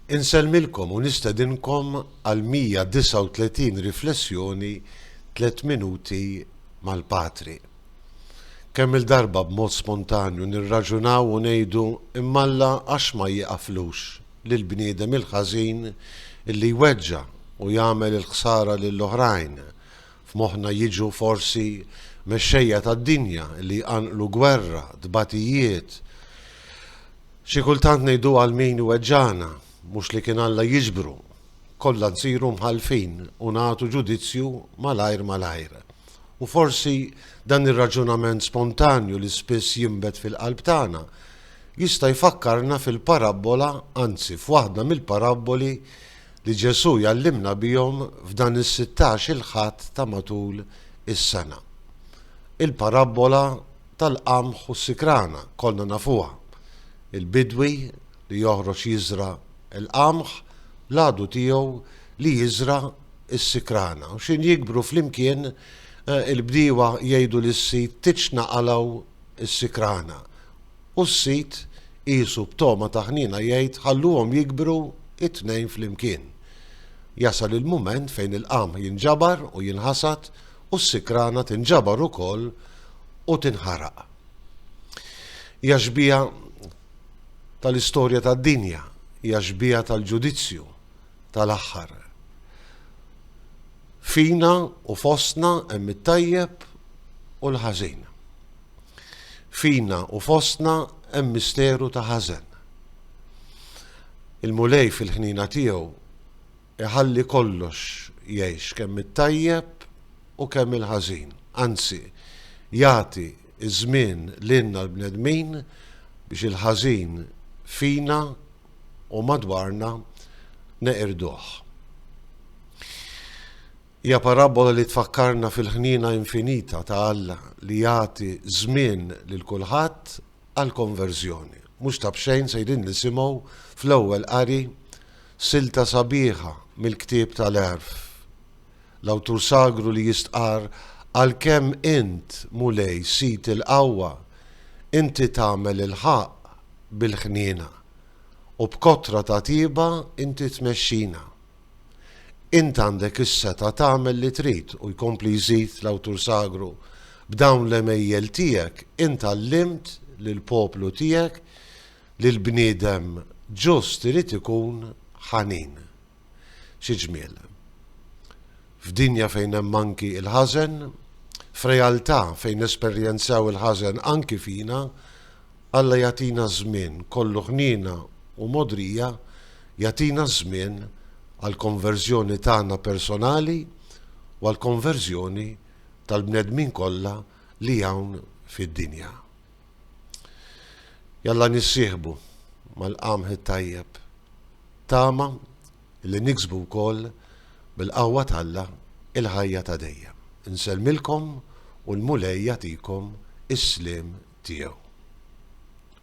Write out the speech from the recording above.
Insellmilkom u nistedinkom għal 139 riflessjoni Tliet Minuti mal-Patri. Kemm-il darba b'mod spontanju nirraġunaw u ngħidu imma Alla għax ma jieqaflux lill-bniedem il-ħażin illi jweġġa' u jagħmel il-ħsara lill-oħrajn, F'moħħna jiġu forsi mexxejja tad-dinja li jqanqlu gwerra, tbatijiet. Xi kultant ngħidu għal min iweġġagħna, mhux li kien Alla jiġbru. Kollha nsiru mħallfin u nagħtu ġudizzju malajr malajr. U forsi dan ir-raġunament spontanju li spiss jinbet fil-qalb tagħna jista' jfakkarna fil-parabbola, anzi f'waħda mill-parabboli li Ġesù jgħallimna bihom f'dan is-sittax-il Ħadd ta' matul is-sena. Il-parabbola tal-qamħ u s-sikrana kollna nafuha, il-bidwi li joħroġ jiżra' l-qamħ l-għadu tiegħu li jiżra' s-sikrana u x'ħin jikbru flimkien il-bdiewa jgħidu lis-sid titx naqalgħu s-sikrana U s-sid, qiesu b'togħma ta' ħniena jgħid, Ħalluhom jikbru t-tnejn flimkien. Jasal il-mument fejn il-qamħ jinġabar u jinħasad u s-sikrana tinġabar ukoll u tinħaraq. Hija xbieha tal-istorja tad-dinja, hija xbieha tal-ġudizzju tal-aħħar. Fina u fostna hemm it-tajjeb u l-ħażin. Fina u fostna hemm misteru ta' ħażen. Il-Mulej fil-ħniena tiegħu iħalli kollox jgħix kemm it-tajjeb u kemm il-ħażin, anzi jagħti ż-żmien lilna l-bnedmin biex il-ħażin fina u madwarna neqirduh. Hija parabbola li tfakkarna fil-ħniena infinita ta' Alla li jagħti żmien lil kulħadd għall-konverżjoni. Mhux ta' b'xejn sejrin nisimgħu fl-ewwel qari silta sabiħa mill-ktieb tal-Għerf. L-awtur sagru li jistqarr, Għalkemm int, Mulej, Sid il-qawwa, inti tagħmel il-ħaqq bil-ħniena, u b'kotra ta' tjieba inti tmexxina. Int għandek is-setgħa tagħmel li trid u jkompli jżid l-awtur sagru, b'dawn l-għemejjel tiegħek int għallimt lill-poplu tiegħek li l-bniedem ġust irid ikun ħanin. Xi ġmiel! F'dinja fejn hemm anki il-ħażen, f'realtà fejn nesperjenzaw il-ħażen anki fina, Alla jagħtina żmien kollu ħniena u mogħdrija, jagħtina ż-żmien għall-konverżjoni tagħna personali u għall-konverżjoni tal-bnedmin kollha li hawn fid-dinja. Jalla nissieħbu mal-qamħ it-tajjeb. Tama li niksbu wkoll bil-qawwa t'Alla il-ħajja ta' dejjem. Insellmilkom u l-Mulej jagħtikom is-sliem tiegħu.